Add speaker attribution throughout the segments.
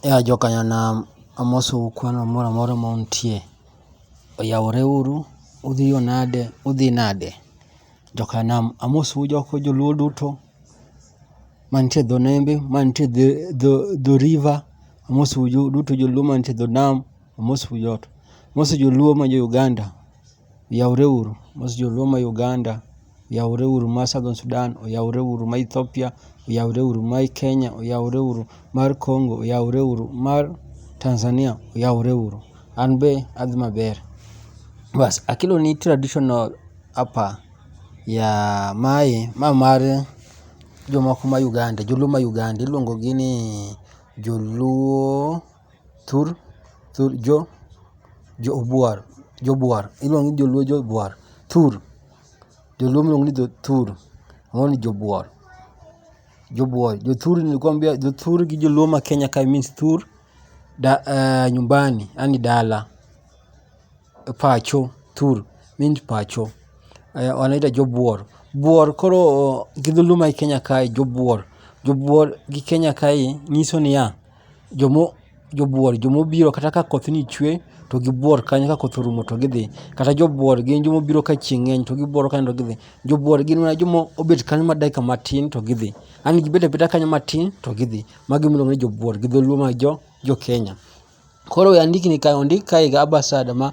Speaker 1: Yawa joka nyanam amosou kwano moro amora ma untie. Oyawore uru, udhiyo nade, udhi nade. Joka nam amosou joka joluo duto mantie dho nembe, mantie dho river, amosou duto joluo mantie dho nam, amosou joto. Amoso joluo ma jo Uganda, oyawore uru. Amoso joluo ma Uganda. oyawre uru ma Southern Sudan, oyawre uru ma Ethiopia, oyawre uru ma Kenya, oyawre uru mar Congo, oyawre uru mar Tanzania, oyawre uru. An be adhi maber. Bas akeloni traditional apa ya mae ma mar jomoko ma Uganda, joluo ma Uganda iluongo gi ni joluo. thur thur jo jobwar jobwar iluongo ni joluo jobwar thur joluo iluongo ni jothur moro ni jobwar jobwar jothur nilikwambia jothur gi joluo ma Kenya kae means thur da nyumbani yaani dala pacho thur means pacho wanaita jobwor bwor koro gi dholuo mae Kenya kae jobwor jobwor gi Kenya kae nyiso niya jobuor joma obiro kata ka koth ni chwe to gibuor kanyo ka koth orumo to gidhi. Kata jobuor gin joma obiro ka chieng' ng'eny to gibuor kanyo to gidhi. Jobuor gin mana joma obet kanyo mana dakika matin to gidhi. Yaani gibet abeta kanyo matin to gidhi. Mago ema iluongo ni jobuor gi dholuo mar jo Kenya. Koro we andikni kae ondik kae gi Abasad ma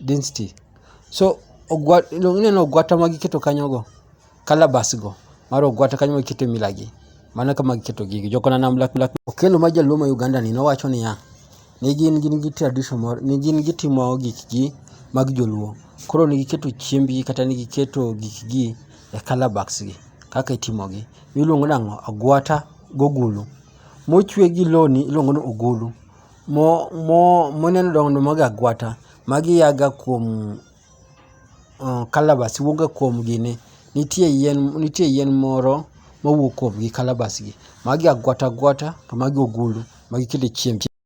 Speaker 1: density. So ogwa iluongo ineno ogwata ma giketo kanyo go, calabash go mar ogwata kanyo ma gikete mila gi. Mano e kama giketo gigi, jo kwananam black black. Okello ma jaluo ma Uganda ni nowacho niya, ne gin gin gi tradition moro ne gin gitimo gik gi mag joluo. Koro ne giketo chiembgi kata ne giketo gik gi e calabash gi, kaka itimo gi. Miluongo nang'o, agwata gogulu. Mochwe gi lewni iluongo ni ogulu. moneno dongo mag agwata magi a ga kuom kalabas wuok ga kuom gini nitie yien nitie yien moro mawuok kuom gi kalabas gi. Magi agwata agwata to magi ogolo magi kelo chiemb